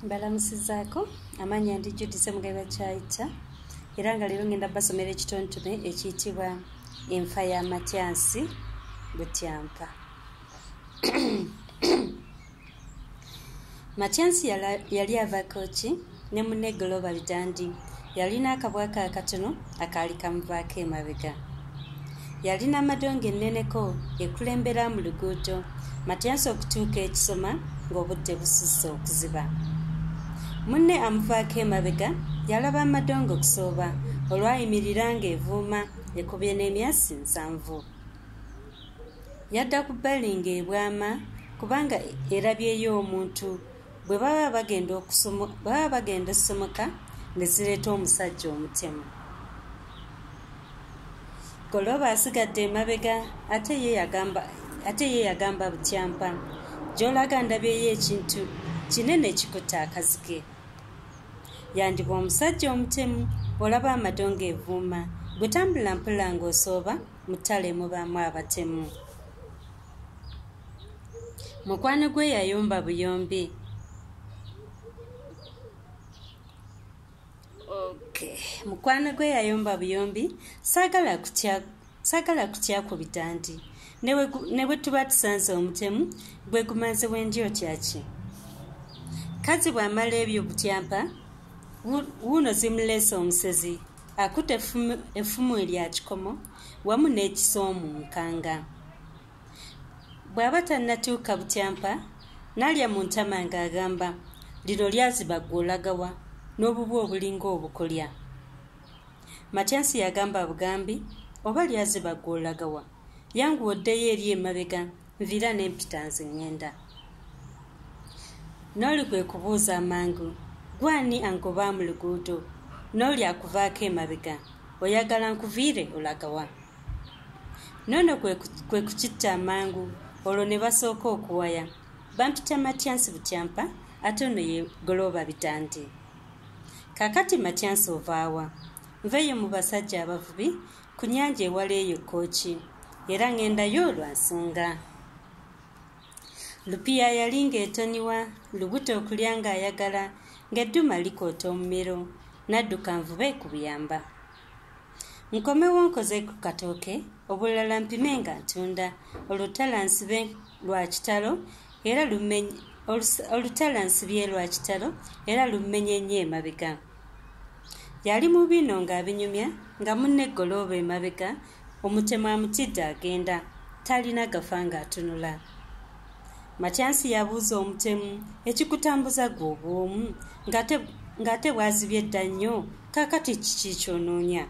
mbalamusizaako amaanyi andi judise mugabe bakyayita era nga leero ngenda basomera ekitontome ekiyitibwa enfa ya matyansi butyampa matyansi yali avako ki ne munne global dandi yalina akabwa ka katono akaali kamuvaako emabega yalina amadongo enneneko ekulembera mu luguudo matyansi okutuuka ekisoma ng'obudde bususse okuziba munne amuvaako emabega yalaba amadongo okusooba olwayimirira ng'evuuma ekubye n'emyasi nsanvu yadda ku bbali ng'ebwama kubanga erabyeyo omuntu bwe baba bagenda baba bagenda essomoka ne zireeta omusajja omutemu golooba asigadde emabega ate ye yagamba ate ye yagamba butyampa gy'olaga ndabyeyo ekintu kinene kikutta akazike yandiba omusajja omutemu olaba amadongo evuuma bwetambula mpula ng'osooba mu ttale mubaamu abatemu mukwano gwe yayomba buyombi okay. mukwano gwe yayomba buyombi sagala kutya sagala kutya ku bitandi ne bwe tuba tusanze omutemu gwe gumaze wendi otyaki kazi bw'amala ebyo butyampa wuuno zimuleese omusezi akuta effumu erya kikomo wamu n'ekisoomu nkanga bw'aba tannatuuka butyampa n'alya mu ntama ng'agamba lino lyaziba gwe olagawa n'obubu obulinga obukolya matyansi yagamba bugambi oba lyaziba gwe olagawa yanguwa oddeyo eri emabega nviira ne mpita nze ŋŋenda n'oli kwe kubuuza amangu gwani angoba mu luguudo n'oli akuvaako emabega oyagala nkuviire olagawa noono kwe kukitta amangu olwo ne basooka okuwaya bampita matyansi butyampa ate ono ye golooba bitandi kakati matyansi ovaawa nveeyo mu basajja abavubi ku nyanja ewala eyo kkooki era ŋŋendayo lwa nsonga lupiya yali ng'etoniwa lubuto okulya ng'ayagala ng'edduma likoota omumiro n'adduka nvube ku buyamba nkomewo nkoze ku katooke obulala mpime nga ntunda olutala nsibe lwa kitalo era olutala nsibye lwa kitalo era lummenye nnyo emabega yali mu bino ng'abinyumya nga munne golooba emabega omutemu amutidde agenda talina gafa ng'atunula matyansi yabuuza omutemu ekikutambuza gwe obwomu ng'ate bwazibye dda nnyo kakati kiki kyonoonya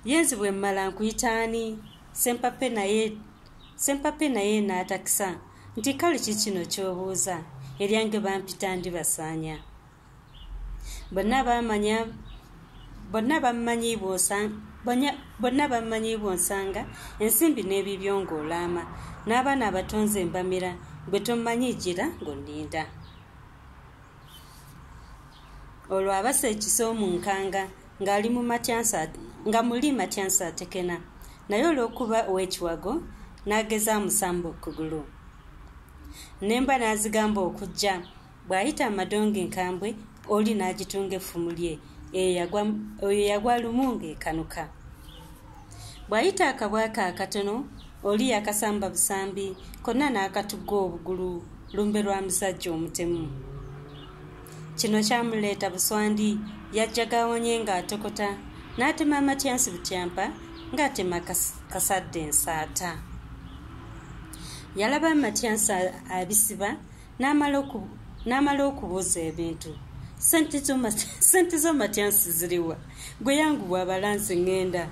yenzi bwe mmala nkuyitaani sempape naye sempape naye n'atakisa nti kale ki kino ky'obuuza eryange bampita ndi basaanya bonna bamanya bonna bammanyi bonna bammanyi bwonsanga ensimbi n'ebibyo ng'olaama n'abaana abatonze embamira gwe tommanyi gira ng'oninda olwo abasa ekisa omunkanga ng'ali mu matyansa nga muli matyansa atekena naye olw'okuba ow'ekiwago n'ageza amusamba okugulu nemba n'azigamba okujja bw'ayita amadongo enkambwe oli n'agitunga effumu lye eyo yagwa lumu ng'ekanuka bw'ayita akabwa ke akatono oli yakasamba busambi konna n'akatugga obugulu lumbe lwa musajja omutemu kino kyamuleeta buswandi yajjaga awonye ng'atokota n'atema amatyansi butyampa ng'atema kasadde ensaata yalaba amatyansi abisiba n'amala okubuuza ebintu sente zo matyansi ziriwa gwe yangu bwabalansi ŋŋenda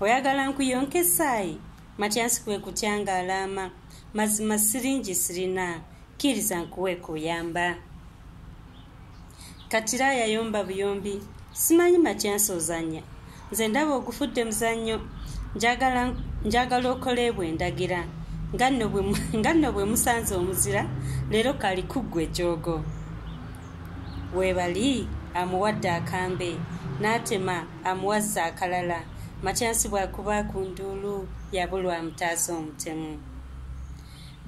oyagala nkuyonka esaayi matyansi kwe kutya nga alaama mazima siringi sirina kkiriza nkuwe kuyamba katira yayomba buyombi simanyi makyansi ozanya nze ndaba ogufudde muzannyo njagala okoleebwa endagira nga nno bwe musanze omuzira leero kali kuggwa ekyogo webali amuwadde akambe n'atema amuwazza akalala makyansi bwakuba ku nduulu yabulwa amutaasa omutemu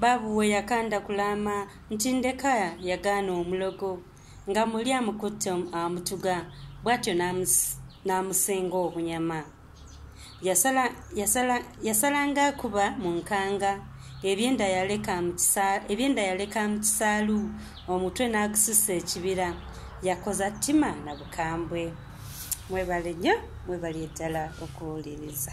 baabuwe yakanda kulaama Ntindeka yagaana omulogo nga muli amukutte amutuga bw'atyo n'amusenga obunyama. Yasalanga akuba mu nkanga ebyenda yaleka mu kisaalu omutwe n'agususa ekibira yakoza ttima na bukambwe. Mwebale nnyo mwebali eddala okuwuliriza.